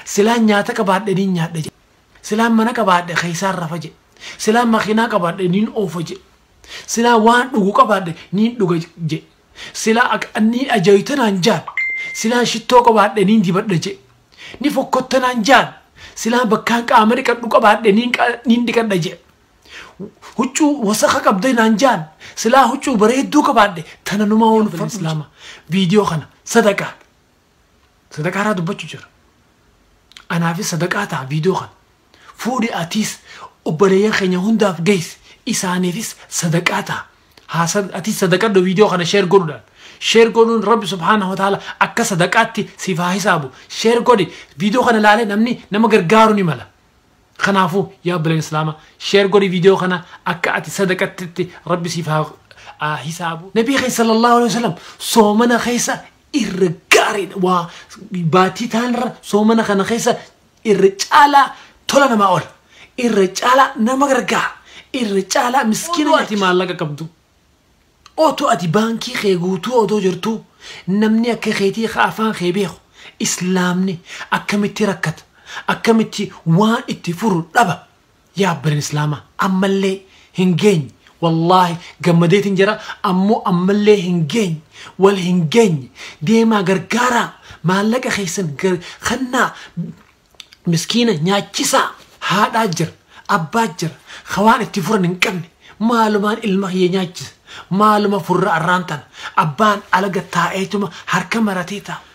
Silaan nyaata qabaadhe niin nyaadha jedhe. Silaan mana qabaadhe keessaan rafa jedhe. Silaan makiinaa qabaadhe niin oofa jedhe. Silaa waan dhugu qabaadhe niin dhuga jedhe. Silaa ak- niin ajaayita naan jaan. Silaa shittoo qabaadhe niin dibadha jedhe. Ni fokkotta naan jaan. Silaa bakkaan qaama dhiqadhu qabaadhe niin qa- niin dhiqadha jedhe. Huccuu wasaka qabda naan jaan. Silaa huccuu bareedduu qabaadhe tana numaa waan fedhu islaama. Viidiyoo kana sadaqaa. sadaqaa irraa dubbachu jira anaafis sadaqaa ta'a viidiyoo kana fuudhi atiis obboleeyyan keenya hundaaf geessi isaaniifis sadaqaa ta'a haa sad- atiis sadaqadhu viidiyoo kana sheer godhuudhaan sheer godhuun rabbi subhaanahu wa ta'ala akka sadaqaatti siif haa hisaabu sheer godhi viidiyoo kana laalee namni nama gargaaru ni mala kanaafuu yaa obboleen islaama sheer godhi viidiyoo kana akka ati sadaqattitti rabbi siif haa haa hisaabu nabii keessa sallallahu alaihi wasallam soomana keessa irra gaariidha. Waa baatii taanirra soomana kana keessa irra caalaa tola namaa oola. Irra caalaa nama gargaara. Irra caalaa miskiina Odoo ati maallaqa qabdu. Otoo ati baankii kee guutuu odoo jirtuu namni akka keetii ka afaan kee beeku islaamni akkamitti rakkata akkamitti waan itti furu dhaba Yaa abbaleen islaamaa ammallee hin geenye wallaahi gammadeetin jira ammoo ammallee hin geenye wal hin geenye deemaa gargaaraa maallaqa keessan gar kannaa miskiina nyaachisaa haadhaa jira abbaa jira ka waan itti furan hin qabne maalumaan ilma kiyya nyaachisa maaluma furra arraan tana abbaan alaga taa'eetuma harka maratee taa'a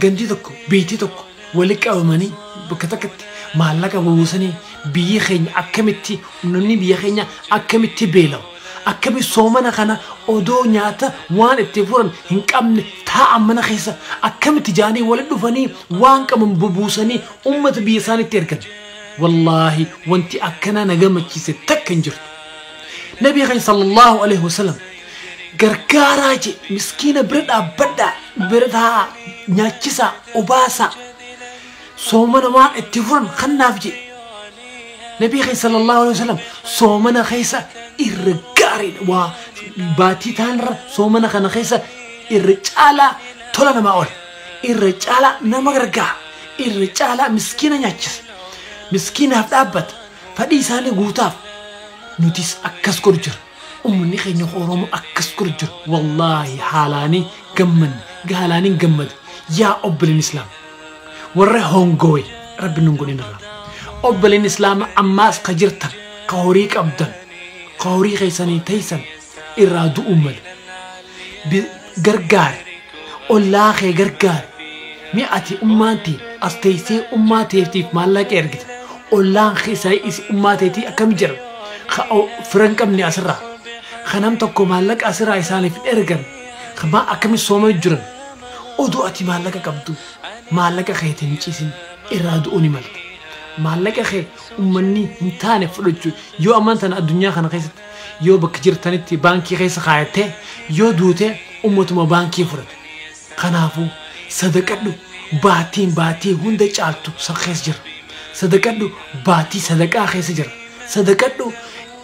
Gandi tokko, biyti tokko wali qabamanii bakka takkatti maallaqa bubuusanii biyyi keenya akkamitti uummanni biyya keenya akkamitti beela'u akkamitti soomana kana odoo nyaata waan itti furan hin qabne taa'an mana keessa akkamitti jaanii wali dhufanii waan qaban bubuusanii uummata biyya isaanitti ergan wallaahi wanti akkanaa na gammachiise takka hin jirtu nabii keenya sallallahu alaihi wasallam gargaaraa je miskiina bira dhaabbadhaa bira taa'aa nyaachisaa obaasaa soomana waan itti furan kannaaf je nabii keenya sallallahu alaihi wasallam soomana keessa irra gaariidha waa baatii taanirra soomana kana keessa irra caalaa tola namaa oole irra caalaa nama gargaara irra caalaa miskiina nyaachisa miskiinaaf dhaabbata fadhii isaanii guutaaf nutis akkas godhu jira Ummanni keenya ka Oromoo akkas godha jiru wallaahi haalaani gammanne gaalaaniin gammade yaa obboleen islaam warra hongowe rabbi nun godhin irraa obboleen islaama ammaas ka jirtan ka horii qabdan ka horii keessanii teeysan irraa du'uun male Bi- gargaari ollaa kee gargaari mee ati ummaan tee as teessee ummaa teetiif maallaqa ergita ollaan kee isa is- ummaa teetii akkam jedhama ka o- fira hin qabne asirraa ka nam tokko maallaqa asirraa isaaniif hin ergan ka maa akkami sooma jiran odoo ati maallaqa qabdu maallaqa kee hin ciisin irraa du'uu ni malta maallaqa kee ummanni hin taane fudhachu yoo ammaan tana addunyaa kana keessatti Yoo bakka jirtanitti baankii keessa kaayattee yoo duute ummatuma baankii fudhata. Kanaafuu sadaqadhu baatiin baatii hunda caaltu san keessa jira. Sadaqadhu baatii sadaqaa keessa jira. Sadaqadhu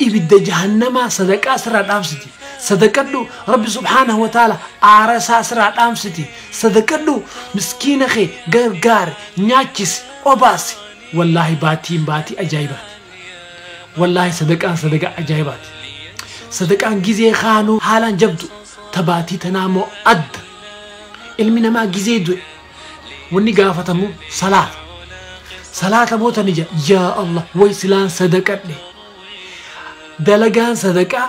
ibidda jahannamaa sadaqaa sirraa dhaamsiti. Sadaqadhu Rabbi subhaanahu wa ta'ala aara isaa sirraa dhaamsiti. Sadaqadhu miskiina kee gargaari, nyaachisi, obaasi. Wallaahi baatiin baatii ajaa'ibaati. Wallaahi sadaqaan sadaqa ajaa'ibaati. Sadaqaan gizee kaanuu haalaan jabdu ta baatii tanaa moo adda. Ilmi namaa gizee du'e wanni gaafatamu salaata. Salaata moo tani jedha yaa Allah way silaan sadaqadhe. Dalagaan sadaqaa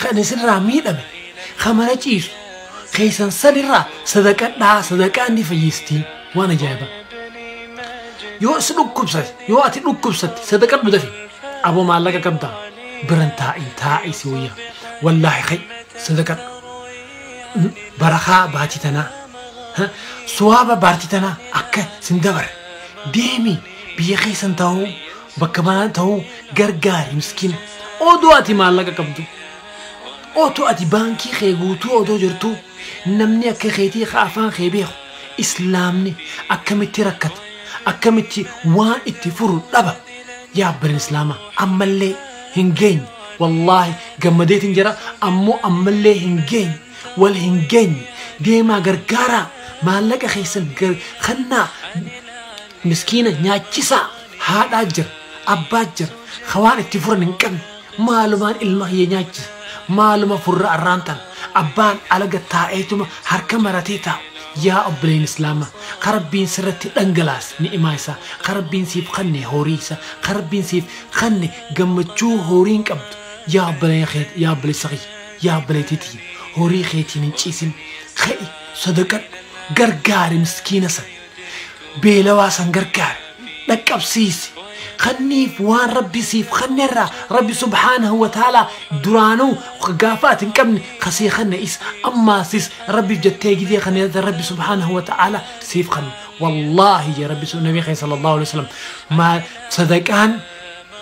kan isirraa miidhame kan mana ciisu keessan sanirraa sadaqadhaa sadaqaan ni fayyistii waan ajaa'iba yoo si dhukkubsate yoo ati dhukkubsatte sadaqadhu dafi aboo maallaqa qabda biran taa'i taa'i si wayya wallaahi kay sadaqadhu barakaa baatii tanaa ha, suwaaba baartii tanaa akka sin dabarre deemi biyya keessan ta'uu Bakka banaa ta'uu gargaari miskiina. Odoo ati maallaqa qabdu. Otoo ati baankii kee guutuu odoo jirtuu namni akka keetii ka afaan kee beeku islaamni akkamitti rakkata akkamitti waan itti furu dhaba yaa abban islaamaa ammallee hin geenye wallaahi gammadeetiin jira ammoo ammallee hin geenye wal hin geenye deemaa gargaaraa maallaqa keessan gar- kannaa Miskiina nyaachisaa haadhaa jira abbaa jira ka waan itti furan hin qabne maalumaan ilma kiyya nyaachisa maaluma furra arraan tana abbaan alaga taa'eetuma harka maratee taa'u yaa obboleeyni islaamaa ka rabbiin sirratti dhangalaase ni'imaa isaa ka rabbiin siif kanne horii isa ka rabbiin siif kanne gammachuu horiin qabdu yaa obboleeyna keet yaa obboleessa kiyya yaa obboleeytii tiyya horii keetiin hin ciisin ka'i sadaqadhu gargaari miskiina san beelawaa san gargaari dhaqqabsiisi kanniif waan rabbi siif kannerraa rabbi subhaanahu wa ta'aalaa duraanuu gaafa ati hin qabne kasii kanne is ammaasis rabbiif jettee gizee kanne irratti rabbi subhaanahu wa ta'aalaa siif kanne wallaahi jee rabbi sun nabii keenya sallallahu alaihi wasallam maal sadaqaan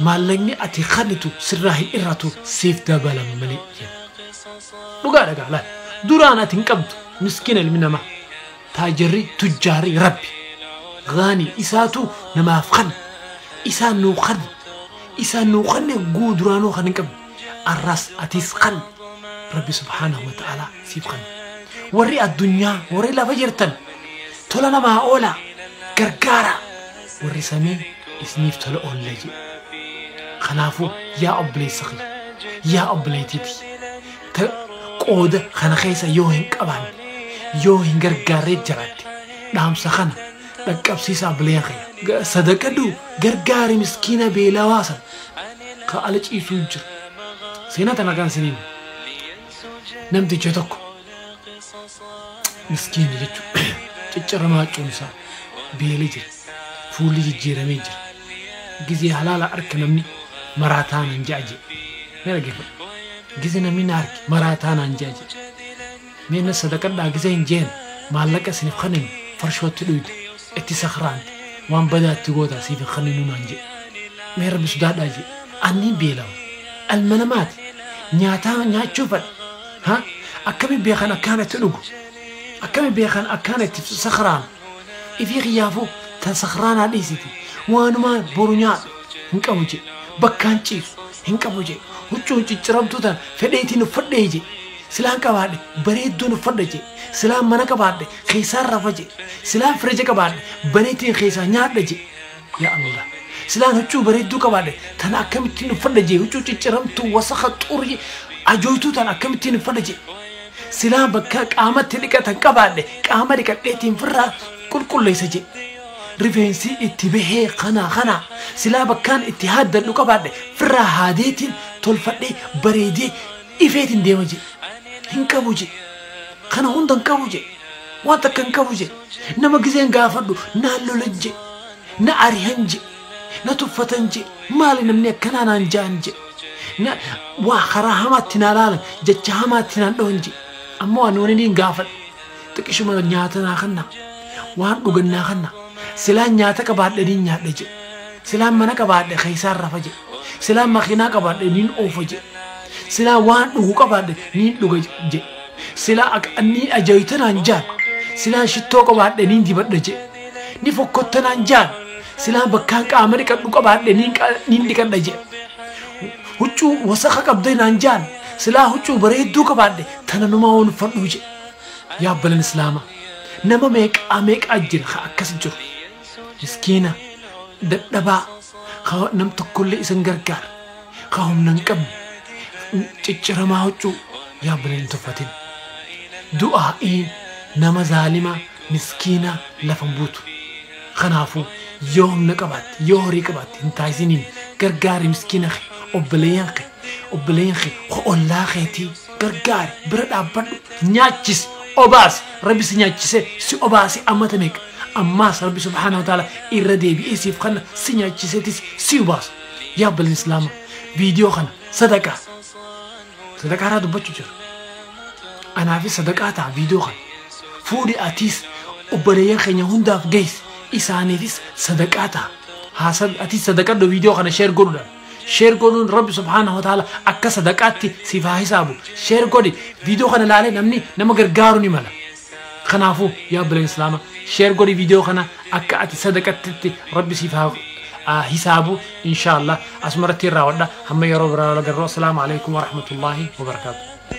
maallaqni ati kannitu sirraa hin irratu siif dabalama malee jeen dhugaa dhagaa laal duraan ati hin qabdu miskiina ilmi namaa Taajirri, tujjaarri, Rabbi. Ghaanii, isaatu namaaf kanna. Isaan nuu kanna. Isaan nuu kanne guu duraanuu kan hin qabne. Arraas atiis kan Rabbi subhaanahu wa ta'ala siif kanna. Warri addunyaa, warri lafa jirtan tola namaa oola, gargaara. Warri samii isiniif tola oolla jedhe. Kanaafuu yaa obboleessa kiyya, yaa obboleettii tiyya. ta qooda kana keessa yoo hin qabaanne yoo hin gargaarree jiraatte dhaamsa kana dhaqqabsiisaa bileen kiyya. Ga- Sadaqadhu gargaari miskiina beelawaa san ka ala ciisuu jiru. Seenaa tana kan isiniin namticha tokko miskiina jechuudha. Cicciramaa cuun isaa beelee jira. fuulli jijjiiramee jira. Gizee halaala arka namni maraa taanaan ja'a jee. Mee dhaggeeffadha. Gizee namni na arke maraa taanaan ja'a jee. Mee na sadaqadhaa gizee hin jeen maallaqa isiniif kanin farshootti dhuyda itti sakraanta waan badaa itti gootaa siif hin kaninuu naan jee. Mee rabbi sodaadhaa jee. Anni beelawa. Ilma namaati. Nyaataa nyaachuu fadha. Ha? Akkami beekan akkaan itti dhugu? Akkami beekan akkaan itti sakraan? Ifii kiyyaafuu tan sakraanaa dhiisiti waanumaa boru nyaadhu hin qabu jee bakkaan ciisu hin qabu jee huccuu cicciramtuu tan fedheetiin uffadhee jee silaan qabaadhe bareedduun uffadha jee silaan mana qabaadhe keessaan rafa jee silaan firija qabaadhe baneetiin keessaa nyaadha jee yaa Allah silaan huccuu bareedduu qabaadhe tan akkamittiin uffadha jee huccuu cicciramtuu wasaka xurii ajooytuu tan akkamittiin uffadha jee Silaa bakka qaama itti dhiqatan qabaadhe qaama dhiqadheetiin firraa qulqulleessa jee. Rifeensi itti bahee kanaa kanaa silaa bakkaan itti haaddadhu qabaadhe firraa haadeetiin tolfadhee bareedee ifeetiin deema jee. Hin qabu jee. Kana hunda hin qabu jee. Waan takka hin qabu jee. Nama gizeen gaafadhu naan lolan jee. Na arihan jee. na tuffatan jedhe maali namni akkanaa naan ja'an jedhe na waa karaa hamaatti naa laalan jecha hamaatti naan dhawan jedhe ammoo ani wani niin gaafadhe xiqishuma nyaata naa kanna waan dhugan naa kanna silaan nyaata qabaadhe niin nyaadha jedhe silaan mana qabaadhe keessaan rafa jedhe silaan makiinaa qabaadhe niin oofa jedhe silaa waan dhugu qabaadhe niin dhuga jedhe silaa ak- niin ajaayita naan jaan silaa shittoo qabaadhe niin dibadha jedhe ni fokkotta naan jaan Silaa bakkaan qaama dhiqadhu qabaadhe niin qa- niin dhiqadha jedhe. Huccuu wasaka qabdee naan jaan silaa huccuu bareedduu qabaadhe tana numaa waan uffadhuu jedhe. Yaa obboleen Islaamaa nama meeqaa meeqaa jira ka akkas jiru. Miskiina dadhabaa ka nam tokkollee isan gargaar ka humna hin qabne cicciramaa huccuu yaa obboleen hin tuffatin. Du'aa'iin nama zaalimaa miskiinaa lafa hin buutu. Kanaafuu yoo humna qabaatte, yoo horii qabaatte hin taasisiniin gargaari miskiina kee, obboleeyyan kee, obboleeyyan kee, ko ollaa keetii gargaari, bira dhaabbadhu, nyaachisi, obaasi, Rabbi si nyaachisee, si obaasee ammata meeqa? Ammaas Rabbi subhaanahu wa ta'aala irra deebi'ee siif kanna, si nyaachiseetis si obaasa. Yaa obboleen Islaama viidiyoo kana sadaqaa. Sadaqaa irraa dubbachuu jira. Anaafis sadaqaa ta'a viidiyoo kana. Fuudhi atiis obboleeyyan keenya hundaaf geessi. Isaaniifis sadaqaa ta'a. Haasa atiis sadaqadhu viidiyoo kana sheer godhuudhaan. Sheer godhuun Rabbi subhaanahu wa ta'ala akka sadaqaatti siif haa hisaabu. Sheer godhi viidiyoo kana ilaalee namni nama gargaaru ni mala. Kanaafu yaa obboleen islaama share godhi video kana akka ati sadaqattitti rabbi siif haa hisaabu inshallah asumarratti irraa wadha hamma yeroo biraa wal agarru assalaamu alaykum warahmatullahi wabarakaatu